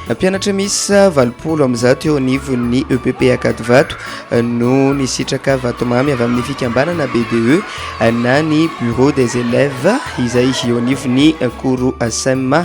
Mpianatra misa valopolo amin'ny zato eo anivon'ny EPP Akadivato eh, no nisitraka vatomamy avy amin'ny fikambanana BDE eh, na ny Bureau des élèves izay eo anivon'ny Koro Asema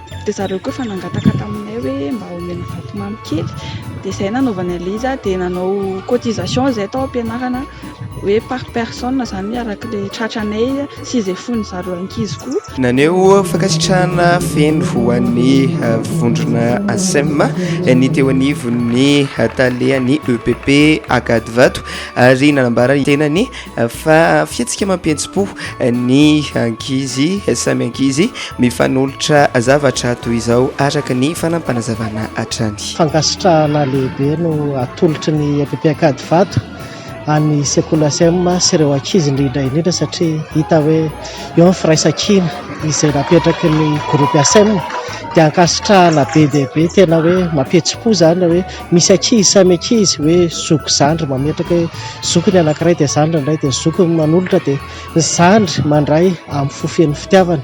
dia zareo koa efa nangataka taminay hoe mba homena vatomamy kely dia izay nanaovany an'ilay izy dia nanao cotisation izay tao am-pianarana hoe par personne izany araka ilay tratranay sy izay fon'ny zareo ankizy koa. Naneho fankasitrahana feno ho an'ny eh, vondrona ASEM eh, ny teo anivon'ny eh, tale an'ny EPP Akadivato ary nanambara ny tenany fa fihetsika mampihetsi-po ny ankizy samy ankizy mifanolotra zavatra toy izao araka ny fanampanazavana hatrany. Fankasitrahana lehibe no atolotry ny EPP Ankadivato any sekoly ACM sy ireo ankizy indrindra indrindra satria hita hoe eo ny firaisankina izay napetraky ny groupe ACM dia ankasitrahana be dia be tena hoe mampihetsi-po izany hoe Misy ankizy samy ankizy hoe zoky zandry mametraka hoe zoky ny anankiray dia zandry ny iray dia zoky ny manolotra dia ny zandry mandray amin'ny fo feno fitiavana.